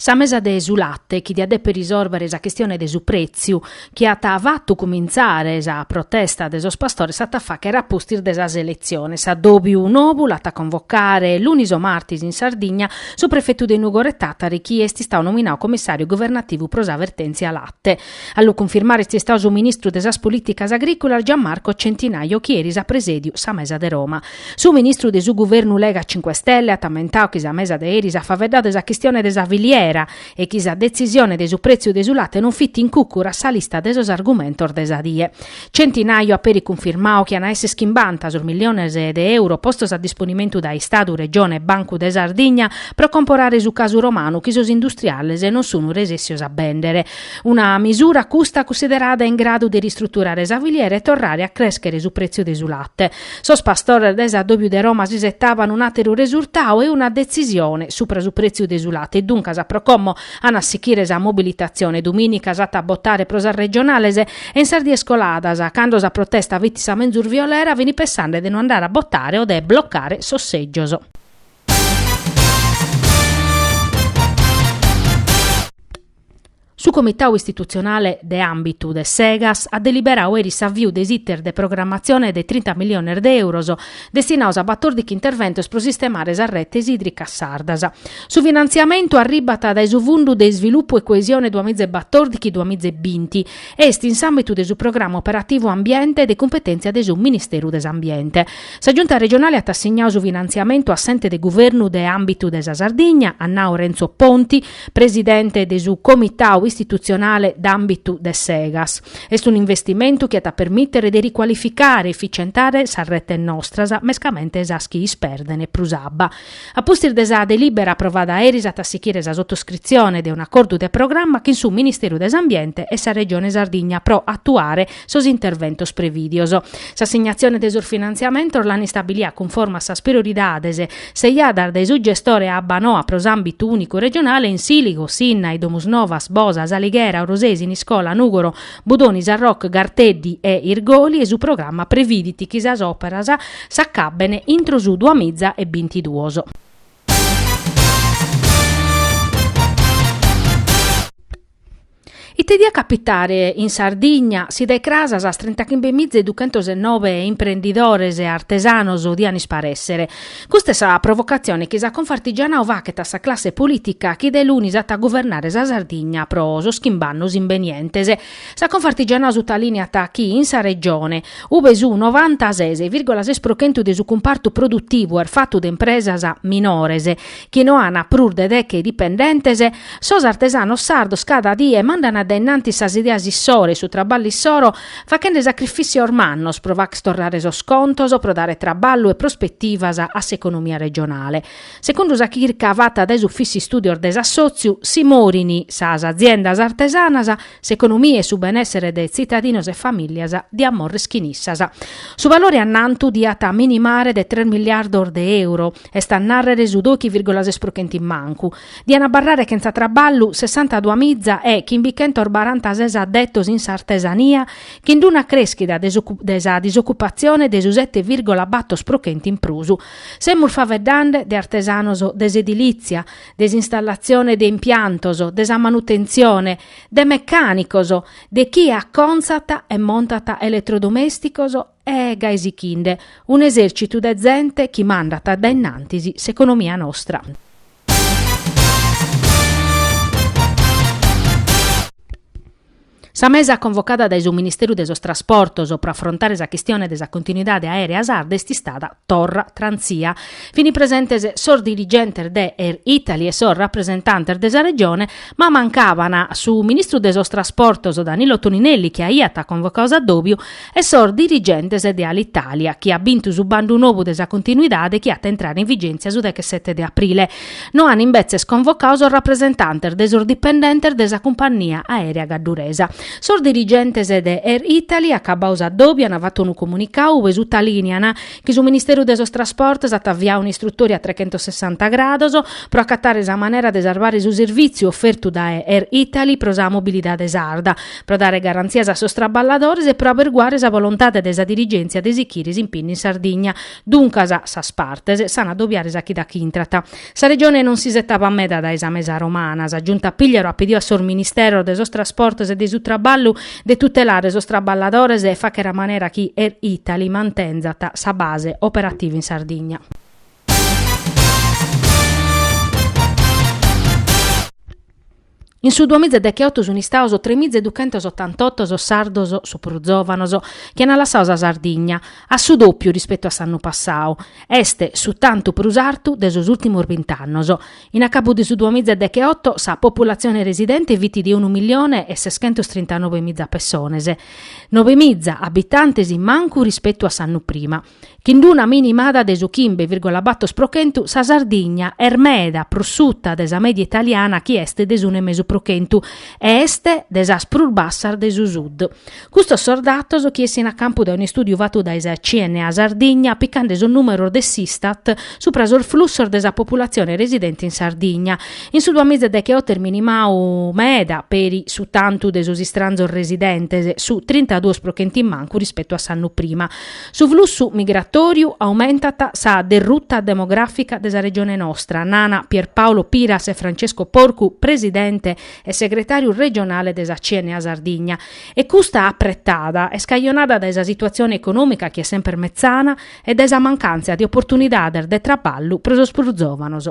Sa mesa de su latte chi diat deper risorbere sa chistione de su prètziu chi at fatu cumintzare sa protesta de sos pastores s'at a fàchere a pustis de sas eletziones. S'addòbiu nobu l'at a convocare lunis o martis in Sardigna su prefetu de Nùgoro e Tàtari chi est istau nominau comissàriu governativu pro sa vertèntzia latte. A lu cunfirmare est istau su ministru de sas Polìticas Agrìcolas Gian Marco Centinaio chi eris at presèdiu sa mesa de Roma. Su ministru de su guvernu Lega Cinque Stelle at ammentau chi sa mesa de eris at faveddau de sa chistione de sa filiera e chi sa detzisione de su prètziu de su late non fit in cùcuru a sa lista de sos argumentos de sa die. Centinaio at peri cunfirmau chi an a èssere chimbanta sos milliones de euro postos a disponimentu dae Istadu, Regione e Bancu de Sardigna pro comporare su casu romanu chi sos industriales non sun resèssios a bèndere. Una misura custa cunsiderada in gradu de ristruturare sa filiera e torrare a crèschere su prètziu de su late. Sos pastores dae s'addòbiu de Roma s'isetaban un'àteru resurtau e una detzisione supra su prètziu de su late e duncas, pro como an a sichire sa mobilitatzione, dumìnica s'at a botare pro sas regionales e in sas dies coladas, cando sa protesta fit sa menzus violera, fini pensande de non andare a botare o de blocare sos sègios. Su Comitau Istitutzionale de Àmbitu de s'Egas at deliberau eris s'aviu de s'iter de programmatzione de trinta milliones de euros destinaus a batòrdichi interventos pro sistemare sas retes ìdricas sardas. Su finantziamentu arribat dae su Fundu de Isvilupu e Coesione duamiza e batòrdichi-duamiza e binti e est in s'àmbitu de su Programma Operativu Ambiente de cumpetèntzia de su Ministeru de s'Ambiente. Sa Giunta Regionale at assignau su finantziamentu a s'Ente de Guvernu de Àmbitu de sa Sardigna, at nau Renzo Ponti, presidente de su Comitau istitutzionale d'àmbitu de s'Egas. Est un'investimentu chi at a permìtere de ricualificare e eficientare sas retes nostras, mescamente sas chi isperdent prus abba. A pustis de sa delìbera aprovada eris at a sichire sa sotoscritzione de un'acordu de programma chin su Ministeru de s'Ambiente e sa Regione Sardigna pro atuare sos interventos prevìdios. S'assignatzione de sos finantziamentos l'an istabilia cunforme a sas prioridades seiadas dae su gestore Abbanoa pro s'àmbitu ùnicu regionale in Sìligo, Sinnai, Domusnovas, Bosa, S'Alighera, Orosei, Siniscola, Nùgoro, Budoni, Sarroch, Garteddi e Irgoli e su programma previdit chi sas òperas s'acabben intro su duamiza e bintiduos. Ite diat capitare in Sardigna si dae cras sas trintachimbe miza e duchentos e nobe imprendidores e artesanos dian isparèssere? Custa est sa provocatzione chi sa Confartigianau fachet a sa classe polìtica chi de lunis at a guvernare sa Sardigna pro sos chimb'annos imbenientes. Sa Confartigianau sutalìneat chi in sa Regione, ube su novantases vìrgola ses pro chentu de su cumpartu produtivu est fatu de impresas minores, chi no ana prus de deche dipendentes, sos artesanos sardos cada die mandana dae innantis sas ideas issoro e su traballu issoro, fachende sacrifissios mannos pro facher torrare sos contos, pro dare traballu e prospetivas a s'economia regionale. Segundu sa chirca fata dae s'Ufìssiu Istudios de s'Assotziu, si morin sas aziendas artesanas, s'economia e su benessere de tzitadinos e familias diat morrer chin issas. Su balore annantu diat minimare de tres miliardos de euro. Est a nàrrere su dòichi vìrgula ses pro chenti mancu. Dian abarrare chentza traballu sessantadua miza e chimbichentos barantases addetos in s'artesania, chin d'una crèschida de sa disocupatzione de su sete vìrgula bator pro chenti in prus. Semus faveddande de artesanos de s'edilìtzia, de s'installatzione de impiantos, de sa manutentzione, de mecànicos, de chie acontzat e montat eletrodomèsticos E gai sichinde, un'esèrcitu de zente chi mandat dae innantis s'economia nostra. Sa mesa convocada dae su Ministeru de sos Trasportos pro afrontare sa chistione de sa continuidade aèrea sarda est istada. Torra trànsia. Fini presentes sos dirigentes de Air Italy e sos rapresentantes de sa Regione, ma mancaban su ministru de sos Trasportos Danilo Toninelli chi aiat convocadu s'addòbiu e sos dirigentes de Alitalia chi at bintu su bandu nou de sa continuidade chi at a intrare in vigèntzia su dechesete de aprile. No an imbetzes convocadu sos rapresentantes de sos dipendentes de sa cumpannia aèrea gadduresa. Sos dirigentes de Air Italy, acabadu s'addòbiu, an fatu unu comunicadu ue sutalìnian chi su Ministeru de sos Trasportos at aviadu un'istrutòria a trechentossessanta grados pro acatare sa manera de sarvare su servìtziu ofertu dae Air Italy pro sa mobilidade sarda, pro dare garantzias a sos traballadores e pro aberguare sa bolontade de sa dirigèntzia de sichire s'impignu in Sardigna. Duncas, sas partes s'an addobiare sa chida chi intrat. Sa Regione non s'isetabat meda dae sa mesa romana. Sa Giunta Pigliaru at pidiu a sos Ministeros de sos Trasportos e de su Traballu de tutelare sos traballadores e fachere a manera chi Air Italy mantenzat sa base operativa in Sardigna. In su duamiza e dechioto sunt istados tremiza e duchentos otantotto sos sardos, su prus zòvanos, chi ant lassadu sa Sardigna, su dòpiu rispetu a s'annu passadu. Est su tantu prus artu de sos ùrtimos bint'annos. In acabu de su duamiza e dechioto sa populatzione residente fit de unu milione e seschentos trintanobe miza pessones, nobe miza abitantes in mancu rispetu a s'annu prima. Chin d'una minimada de su chimbe virgola bator pro chentu sa Sardigna est meda prus suta de sa mèdia italiana chi est de s'unu e mesu pro chentu e est de sas prus bassas de su Sud. Custos sos datos chi essint a campu dae un'istùdiu fatu dae sa CNA Sardigna picande sos nùmeros de s'Istat subra sos flussos de sa populatzione residente in Sardigna. In su duamiza deghe oto est minimadu meda peri su tantu de sos istranzos residentes, su trintaduos pro chentu in mancu rispetu a s'annu prima. Su flussu migratòriu aumentat sa derruta demogràfica de sa Regione nostra, nana Pierpaolo Piras e Francesco Porcu, presidente e segretàriu regionale de sa CNA Sardigna. E custa apretada est cajonada dae sa situatzione econòmica chi est semper metzana e dae sa mancàntzia de oportunidades de traballu pro sos prus zòvanos.